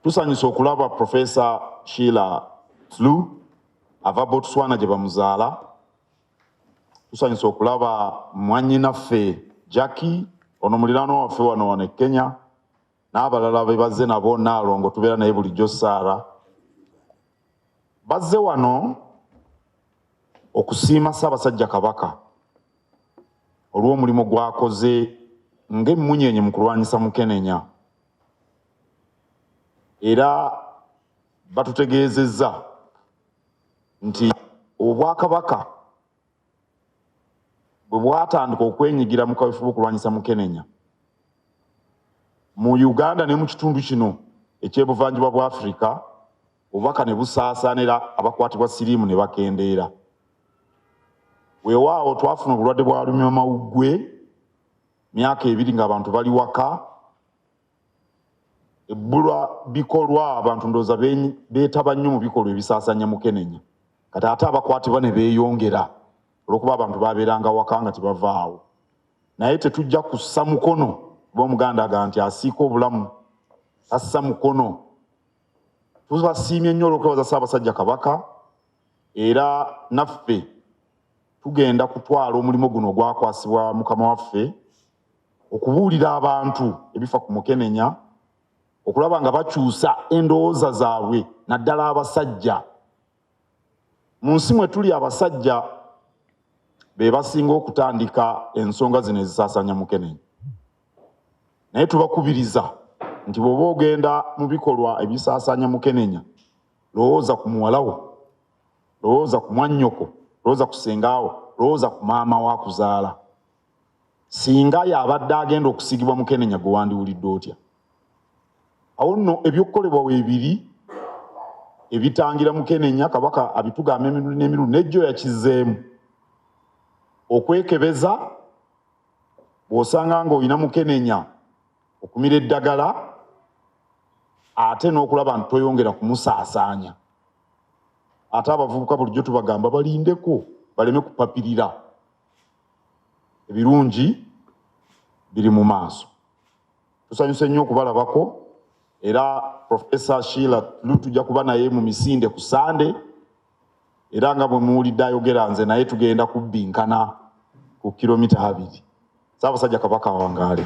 Tusanyuse okulaba Professor Sheila Tlu ava Botswana gye bamuzaala. Tusanyuse okulaba mwannyinaffe Jackie ono muliraano waffe wano wano e Kenya n'abalala be bazze nabo Nnaalongo tubeera naye bulijjo Saara. Bazze wano okusiima Ssaabasajja Kabaka olw'omulimu gwakoze ng'emmunyeenye mu kulwanyisa mukenenya. era batutegeezezza nti obwakabaka bwe bwatandika okwenyigira mu kaweefube okulwanyisa mukenenya mu uganda ne mu kitundu kino ekyebuvanjuba bwa afirika obubaka ne busaasaanira abakwatibwa siriimu ne bakendeera weewaawo twafuna obulwadde bwa lumya mawuggwe Myaka ebiri ng'abantu bali waka, ebbulwa bikolwa abantu ndowooza beetaba nnyo mu bikolwa ebisaasanya mukenenya kati ate abakwatibwa ne beeyongera olwokuba abantu babeeranga waka nga tebavaawo naye tetujja kussa mukono kuba omuganda aga nti asiika obulamu assa mukono tubasiimye nnyo olwokwebaza ssaabasajja kabaka era naffe tugenda kutwala omulimu guno ogwakwasibwa mukama waffe okubuulira abantu ebifa ku mukenenya okulaba nga bakyusa endowooza zaabwe naddala abasajja mu nsi mwe tuli abasajja be basinga okutandika ensonga zino ezisaasaanya mukenenya naye tubakubiriza nti bw'oba ogenda mu bikolwa ebisaasaanya mukenenya lowooza ku muwalawo lowooza ku mwannyoko lowooza ku sengaawo lowooza ku maama wo akuzaala singa yabadde agenda okusigibwa mukenenya gwe wandiwulidde otya awo nno ebyokukolebwa webiri ebitangira mukenenya kabaka abitugamba emirundi n'emirundi nejjo yakizeemu okwekebeza bw'osanga ng'olina mukenenya okumira eddagala ate n'okulaba nti toyongera kumusaasaanya ate abavubuka bulijjo tubagamba balindeko baleme kupapirira ebirungi biri mu maaso tusanyuse nnyo okubalabako era profesa shiila lu tujja kuba naye mu misinde ku sande era nga bwe muwulidde ayogera nze naye tugenda kubbinkana ku kilomita abiri Ssaabasajja Kabaka awangaale.